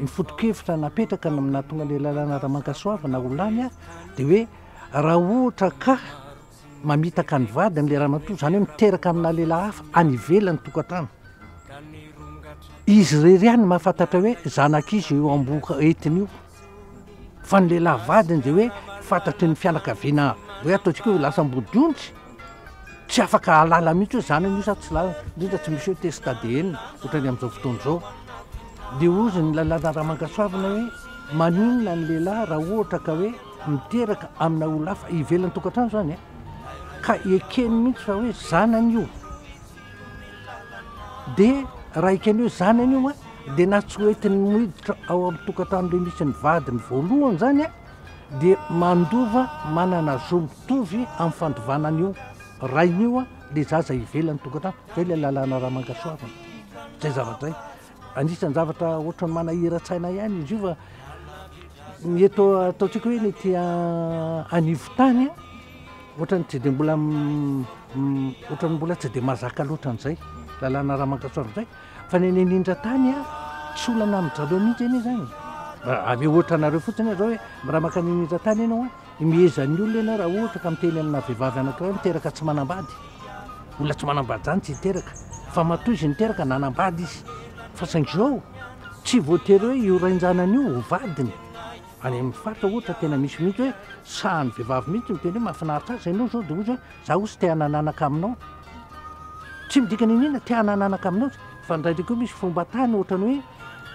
Ny foto-kevitra napetraka no nahatonga ilay lalàna Ramankassoavina ho lany dia hoe raha ohatra ka mamitaka ny vadiny ilay ramatoa, izany hoe miteraka amina lehilahy hafa any ivelan'ny tokantrano, izy irery ihany no mahafantatra hoe zanak'iza io amboa entiny io, fa ny lehilahy vadiny dia hoe fantatry ny fianakaviana hoe ataontsika hoe lasa ambodiondry. Tsy afaka ahalala mihitsy hoe zany anio sa tsy zany, indrindra tsy misy hoe test ADN ohatran'ny amin'izao fotoana izao. Dia hozy ny lalàna Ramangasuavina hoe maninona ny lehilahy raha ohatra ka hoe miteraka amina olon-hafa ivelan'ny tokantrano izany e? Ka ekeny mihitsy fa hoe zanany io. Dia raha ekeny hoe zanany io dia na tsy hoentiny miditra ao amin'ny tokantrano ilay misy ny vadiny voalohany izany e? dia mandova manana zo mitovy amin'ny fandovana an'io rainy io ilay zaza ivelan'ny tokantrano. Izay ilay lalàna Ramangasoavina. Izay zavatra izay. Anisan'ny zavatra ohatran'ny manahiran-tsaina ihany izy io fa ny eto ataontsika hoe ny ety anivon-tany ohatran'ny tsy dia mbola ohatran'ny mbola tsy dia mazaka loatra an'izay lalàna Ramangasoavina izay. fa ny any anindra tany a tsy olana amin'ny draleo mihitsy anie zany ame ohatra anareo fotsiny azao hoe raha maka ny anindra tany ianao a imehezan'ny olona ianao raha ohatra ka miteny amina vehivavy anankiray miteraka tsy manambady olona tsy manambady zany tsy hiteraka fa matoa izy niteraka nanambady izy fa saingy zao tsy voatery hoe io rainjanany io ho vadiny any amin'ny faritra ohatra tena misy mihitsy hoe sahan'ny vehivavy mihitsy miteny hoe mahafinaritra azy ianao zao de ozy hoe Za ozy te hanananaka aminao. Tsy midika niniana te hanananaka aminao izy. Fa indraindray koa misy fomba tany ohatrany hoe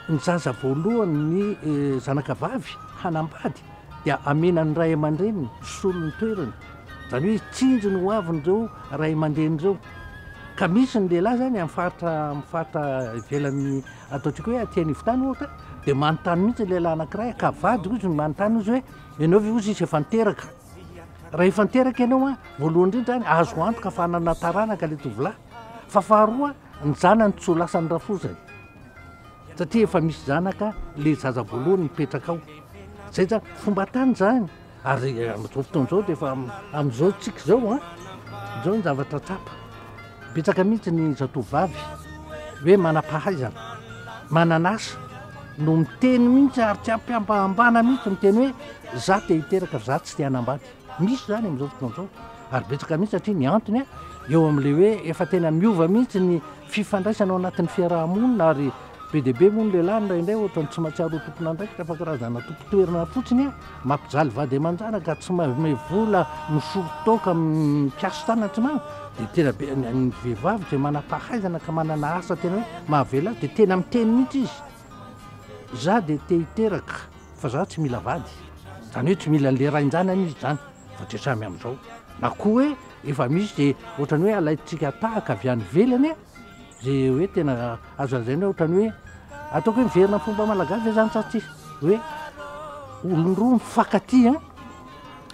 ny zaza voalohany ny eh, zanaka vavy hanambady dia amena ny ray aman-dreniny misolo ny toerany. Izany hoe tsinjo ny hoavin'ireo ray aman-dreny ireo. Ka misy ny lehilahy zany amin'ny faritra amin'ny faritra ivelan'ny ataontsika hoe aty anivon-tany ohatra dia manontany mihitsy ny lehilahy anankiray ka vady ozy no manontany ozy hoe ianao ve ozy izy efa niteraka Raha efa niteraka ianao a, voalohany indrindra any azo antoka fa hanana taranaka ilay tovolahy, fa faharoa ny zanany tsy ho lasan'ny rafozany, satria efa misy zanaka ilay zaza voalohany mipetraka ao. Zay zany fomba tany zany, ary eh, amin'izao fotoana izao dia efa amin'izao tsika izao a, izao ny zavatra tsapa. Betsaka mihitsy ny zatovovavy hoe manam-pahaizana, manan'asa no miteny mihitsy ary tsy ampiambahambana mihitsy miteny hoe za te hiteraka fa za tsy te hanambady. Misy zany amin'izao fotoana izao ary betsaka mihitsy satria ny antony a eo amin'le hoe efa tena miova mihitsy ny fifandraisana ao anatin'ny fiaraha-monina ary Be dia be moa ny lehilahy indraindray ohatrany tsy mahatsiaro ho tompon'andraikitra fa karazana tompon-toerana fotsiny an! Mampijaly vady aman-janaka ka tsy manome vola misolo toaka amin'ny mpiasa tanana tsy manana dia tena be ny vehivavy izay manam-pahaizana ka manana asa tena hoe mahavela azy dia tena miteny mihitsy izy za dia te hiteraka fa za tsy mila vady izany hoe tsy mila an'le rain-janany izy izany fa dia samy amin'izao na koa hoe efa misy dia ohatrany hoe alaintsika tahaka avy any ivelany an! Ze hoe tena azo lazaina hoe ohatran'ny hoe ataoko hoe miverina amin'ny fomba malagasy ve zany sa tsia? Hoe olona roa mifankatia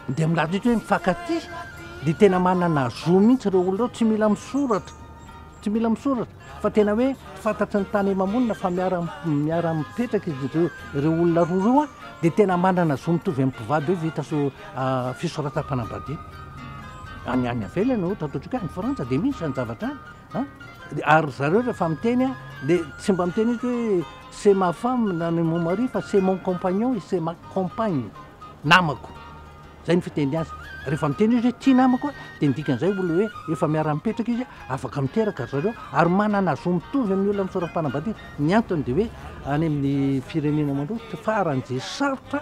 an dia milaza mihitsy hoe mifankatia dia tena manana zo mihitsy ireo olona ireo tsy mila misoratra, tsy mila misoratra fa tena hoe fantatry ny tany aman-monina fa miara miara mipetraka izy ireo, ireo olona roa ireo an dia tena manana zo mitovy amin'ny mpivady hoe vita so- fisoratam-panambadiana. Any any ivelany ohatra ataontsika hoe any Frantsa dia misy izany zavatra any. Ary ry zareo rehefa miteny dia tsy mba miteny mihitsy hoe c'est ma femme na ni mon mari fa c'est mon compagnon et c'est ma compagne, namako. Izay ny fiteny azy. Rehefa miteny izy hoe ity namako a, dia ny dikan'izay olona hoe efa miara-mipetraka izy, afaka miteraka ry zareo ary manana zo mitovy amin'ny olona misoram-panambadiana. Ny antony dia hoe any amin'ny firenena mandroso, farany dia sarotra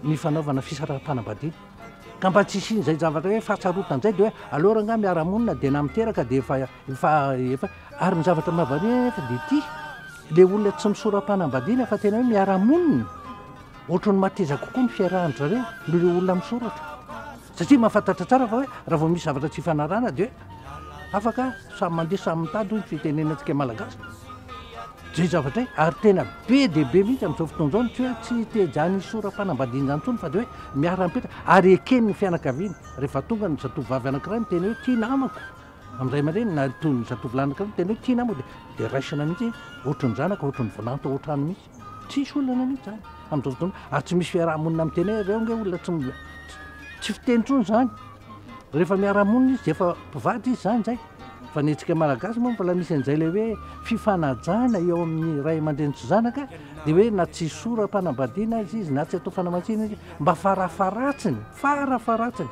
ny fanaovana fisaram-panambadiana. Ka mba tsy hisian'izay zavatra hoe fahasarotan izay dia hoe aleo rangahy miara monina dia na miteraka dia efa efa efa ary ny zavatra mahavariana nefa dia ity le olona tsy misorapanambadiana fa tena hoe miara monina ohatry ny mateza kokoa ny fiarahan zareo no le olona misoratra satria mahafantatra tsara fa hoe raha vao misy zavatra tsy fanarana dia hoe afaka samy mandeha samy mitady hoy ny fitenenantsika malagasy Zay zavatra hay, ary tena be dia be mihitsy amin'izao fotoana izao ny tsy hoe tsy teja-ny hisoram-panambadiana izany intsony fa dia hoe miara-mipetraka ary eken'ny fianakaviany. Rehefa tonga ny zatovovavy anankiray miteny hoe tia namako amin'ny ray aman-dreniny na toy ny zatovolahy anankiray miteny hoe tia namako dia dia raisina mihitsy hoe ohatry ny zanaka, ohatry ny volanto ao an-trano mihitsy. Tsisy olana mihitsy izany amin'izao fotoana izao ary tsy misy fiaraha-monina miteny hoe reo ange olona tsy tsy fiteny intsony izany. Rehefa miara-monina izy dia efa mpivady izy zany zay fa ny antsika malagasy moa mbola misy an'izay ilay hoe fifanajana eo amin'ny ray aman-dreny sy zanaka dia hoe na tsy sora-panambadiana azy izy na tsy atao fanamatsiana izy mba farafaratsiny farafaratsiny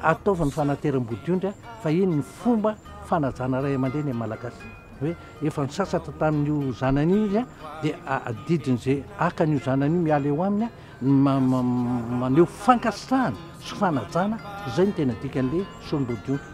ataovy ny fanateram-bodiondry fa iny ny fomba fanajana ray aman-dreny amin'ny malagasy hoe efa ny sasatra tamin'io zanany io izy dia adidin'izay hakan'io zanany io miala eo aminy maneho fankasitrahana sy fanajana, izay no tena dikan'ilay Sombodiona.